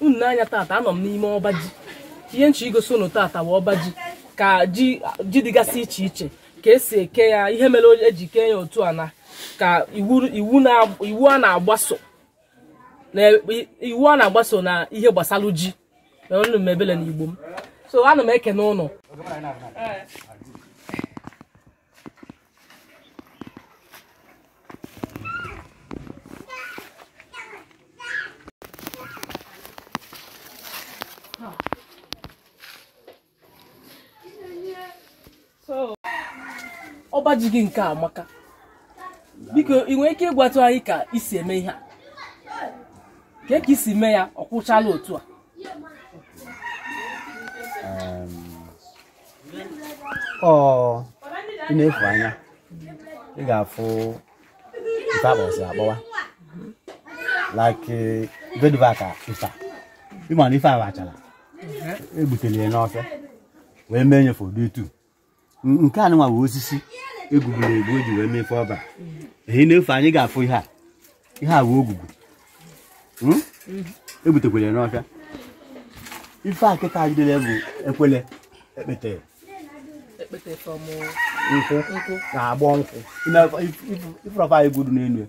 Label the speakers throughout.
Speaker 1: unu n'anya tata anọ m n'ime ọba ji ihe m chọ igosi unu tata bụ ọba ji ka ji dịgasị iche iche ka esi eke ya ihe mere o- eji kee ya otu a na ka iwu na- iwu a na-agbaso na ihe gbasalụ ji na unu mebele na igbo m so ana m ekene ụnụ ọba ji gị nke a amaka biko ị nwere ike ịgwatụ anyị ka isi eme ihe a ka ka isi mee ya ọ kwụchala otu a
Speaker 2: ọ i nefu anya ị ga-afụ ife akpọsị akpọwa like ive dụva ka ife a. ị ma na ife a bụ achala egbutere ya n'ọfịa wee mee nyefe ụdị etu N- nke a nwa bụ osisi egbubere egbu eji wee mefe ọba eh i nefu anya ị ga-afụ ihe a ihe a bụ ogugu hmm? egbutekwara n'ọfịa ife a kịta jidere bụ ekwele ekpete nkwụ na-agbọ nkwụ ị fụrọ fa igu dị n'elu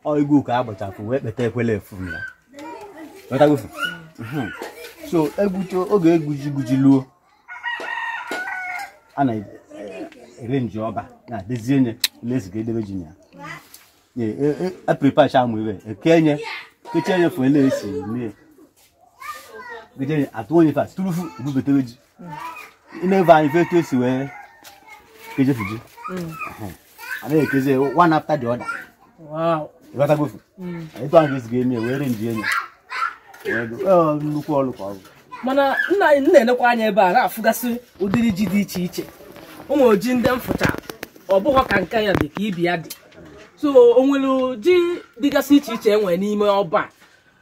Speaker 2: ọ igu ka a gbachapụ wee kpeta ekwele efu ya hmm. so egbuto oge igwu ji luo a na-ere nji ọba na-edozie nye na-eziga edebe ji ya apripacha amụ ibe ekenye kechenye fụ ele esi mee kechenye atụ onye fa turufu ebubetere ji i nebe anya ị fụ etu esi wee kejefu ji anaghị ekezi one after the other ị ghọtagofu etu ahụ ga-esi ga-eme wee re nji enye nnukwu ọrụ ka ọ bụ mana nna anyị
Speaker 1: na-elekwa anya ebe a na-afụgasị ụdịrị ji dị iche iche ụmụ ji ndị m fụcha ọ bụghọ ka nke a dị ka ibe ya dị so o nwere ji dịgasị iche iche e nwere n'ime ọba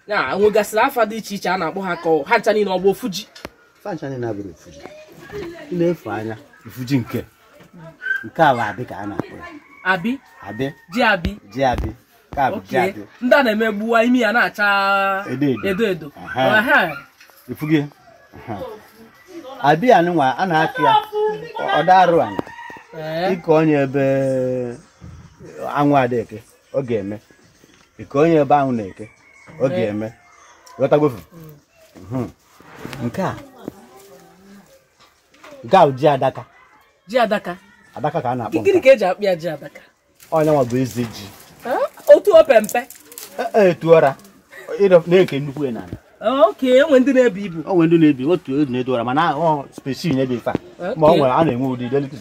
Speaker 1: a. o nwegasịrị afa dị iche iche a na-akpọ ha ka ọ- ha ncha niile ọ bụ ofu ji fa ncha niile abụrọ
Speaker 2: ofu ji i nefu anya ofu ji nke nke a bụ abi ka a na-akpọ ya
Speaker 1: abi abi ji abi ji abi nke a
Speaker 2: bụ ji oke abi ndị a na-eme egbuwa
Speaker 1: ime ya na-acha Edo edo. edo edo Aha. Aha.
Speaker 2: ị fụgo abi a nụnwa a na-akọ ya ọ da-arọ ana ị kọnye ebe anwụ ada-eke ọ ga-eme ị kọnye ebe anwụ na-eke ọ ga-eme ghọtagofu Mhm. nke a nke a bụ ji adaka ji adaka adaka ka a na-akpọ nke a. gịnị ka eji akpọ ya ji adaka
Speaker 1: onye nwa bụ
Speaker 2: eze ji
Speaker 1: otu opempe e, e,
Speaker 2: etuora na-eke nnukwu ya n'ala oke enwe ndị
Speaker 1: na-ebu ibu o nwe ndị na-ebi otu edu na-edu
Speaker 2: ọra mana ọ species na-ebi ife ma ọ nwere a na-enwe ụdị delikiz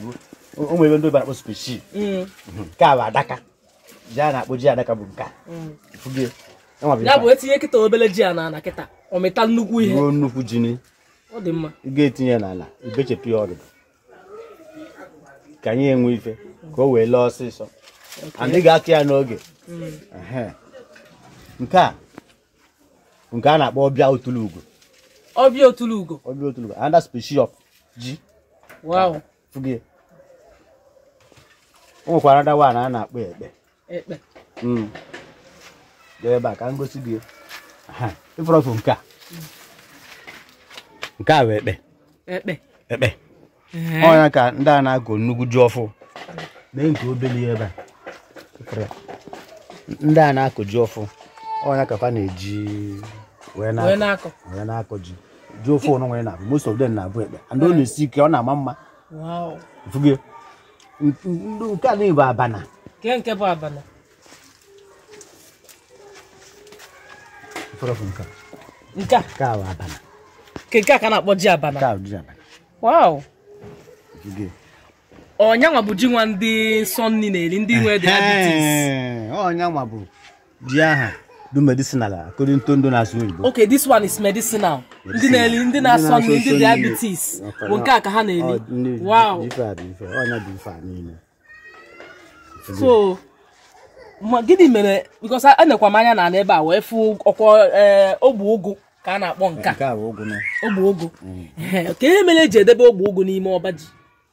Speaker 2: o nwere ndị bara akpọ species mm. mhm. nke a bụ adaka ji a na-akpọ ji adaka bụ
Speaker 1: nke a mm. ya bụ e tinye kịta obele ji a n'ala kịta ọ mịta nnukwu ihe nnukwu ji ị ga-etinye n'ala
Speaker 2: i bechapụ ya ọdụdụ ka anyị enwe ife ka o wee lee ọsịsọ anyị ga-akụ ya n'oge Ehe. nke a bụ nke a na-akpọ ọbịa otulu ugo ọbịa otulu ugo ọbịa otulu ugo another species of ji wow
Speaker 1: ị fụgo
Speaker 2: o nwekwara another one a na-akpọ ekpe ekpe Mm. Bịa ebe a ka m gosi gị Aha, ị fụrụ ofu nke a nke a bụ ekpe ekpe ekpe Ee. ọ ya ka ndị a na-akọ nnukwu ji ọfụ nee nke obele ya ebe a Ị fụrụ ya? ndị a na-akọ ji ọfụ ọ ya ka fa na-eji wee wee na-akọ na-akọ wee na-akọ ji ji ọfụ anụnwa na-abụ most of them na-abụ ekpe and ọ na-esi ike ọ na-ama mma Wow. Ị fụgo ya? nke a bụ abana kee nke bụ
Speaker 1: abana nke a ka bụ
Speaker 2: abana nke a
Speaker 1: ka na-akpọ ji abana wow ọ nya nwa bụ ji nwa ndị nsọ nni na-eri ndị nwe diabetes ọ nya nwa bụ
Speaker 2: ji ahụ dụ medicinal according to ndị na-asụ oyibo okay this one
Speaker 1: is medicinal ndị na-eli ndị na-asọ nri ndị diabetes bụ nke a ka ha na-eli wow so gịnị mere because anekwa m anya na ebe a wee fụ ọ kwa eh, ogbe ụgụ ka a na-akpọ nke a ogbe ụgụ mm. kee ihe mere e ji edebe ogbe ụgụ n'ime ọba ji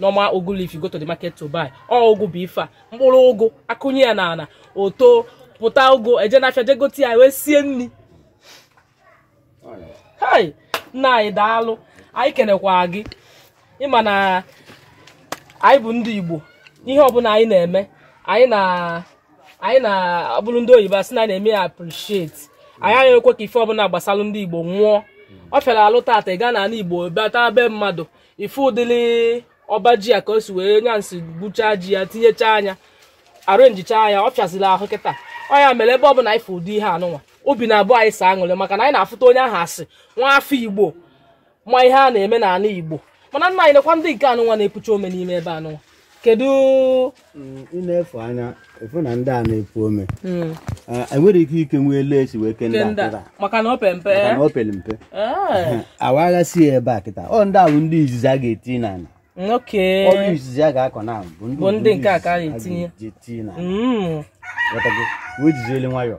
Speaker 1: normal ụgụ leaf you go to the market to buy ọ ụgụ bụ ife a mkpụrụ ụgụ a kụnye ya n'ala o topụta ụgụ e jee n'afịa jee gote ya wee sie nni hai nna anyị daalụ anyị kenekwa gị ị ma na anyị bụ ndị igbo ihe ọbụla anyị na-eme anyị na anyị na-abụrụ ndị oyibo asị na anyị na-eme ya appreciate anyị anaghị ekwe ka ife ọbụla gbasara ndị igbo nwụọ ọ fịara ahụ tata ị gaa n'ala igbo bata be mmadụ ị fụ ụdịrị ọba ji a ka o si wee nya nsi gbuchaa ji ya tinyechaa anya arrangechaa ya ọ fịaziri ahụ kịta ọ ya mere ebe ọ bụla ị fụ ụdị ihe anụnwa obi na-abụ anyị sọ aṅụrị maka na anyị na-afụta onye ahụ as nwa afọ igbo ma ihe a na-eme n'ala igbo mana nna anyị nekwa ndị nke anụnwa na-epucha ome n'ime ebe anụnwa kedu mm,
Speaker 2: ị na-afụ nya afụ na ndị a na-epu ome hmm. eh, e nwere ike ike nwee etu e si wee ke ndị a kịta maka na o pere mpe
Speaker 1: maka na o pere mpe eh. a
Speaker 2: waghasịa ya ebe a kịta ọ ndị ahụ ndị izizi a ga-eti n'ala ọrụ izizi a ga-akọ na bụ ndị nke a ka
Speaker 1: a ga-etinye
Speaker 2: wee jiziele nwayọọ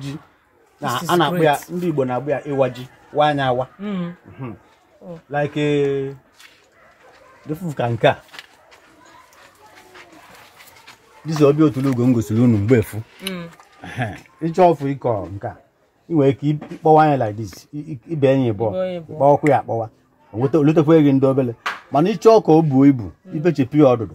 Speaker 2: ji na This is a na-akpọ ya great. ndị Igbo na-akpọ ya ịwa ji waa nya awa Mm. Mhm. Oh. like eh, ị fụ ka nke a this ọbịaọtụlụgo m gosiri unu mgbe afụ Mm. ị chọọ ọfụ ịkọ nke a ị nwere ike ịkpọwa nya like this i- i- ibe n'abụọ Ibe n'abụọ. ị kpọwakwa ya akpọwa o lutekwa gị ndị obele mana ị chọọ ka o buo ibu i bechepụ ya ọdụdụ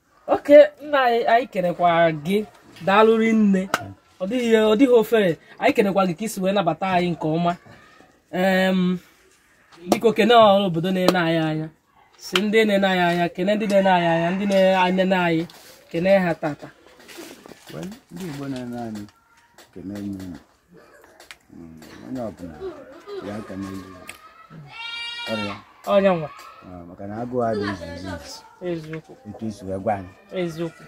Speaker 2: okay
Speaker 1: nna anyị anyị kenekwa gị daalụ rinne ọ dịghị ọ dịghị ofere anyị kenekwa gị ka i si wee nabata anyị nke ọma Em, biko kene ọra obodo na-ene anyị anya sị ndị na-ene anyị anya kene ndị na-ene anyị anya ndị na-enene anyị kene ha tata Well,
Speaker 2: ndị Igbo na-ene anyị ekene m unu. onye ọbụla ya aka n'elu ọrịa onye nwa
Speaker 1: ah, maka na agụụ
Speaker 2: adị izu izu izu eziokwu
Speaker 1: etu i si wee gwa
Speaker 2: anyị
Speaker 1: eziokwu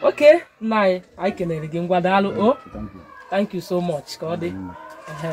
Speaker 1: okay nna anyị anyị kelere gị ngwa daalụ o Thank you. thank you so much ka ọ dị Ehe.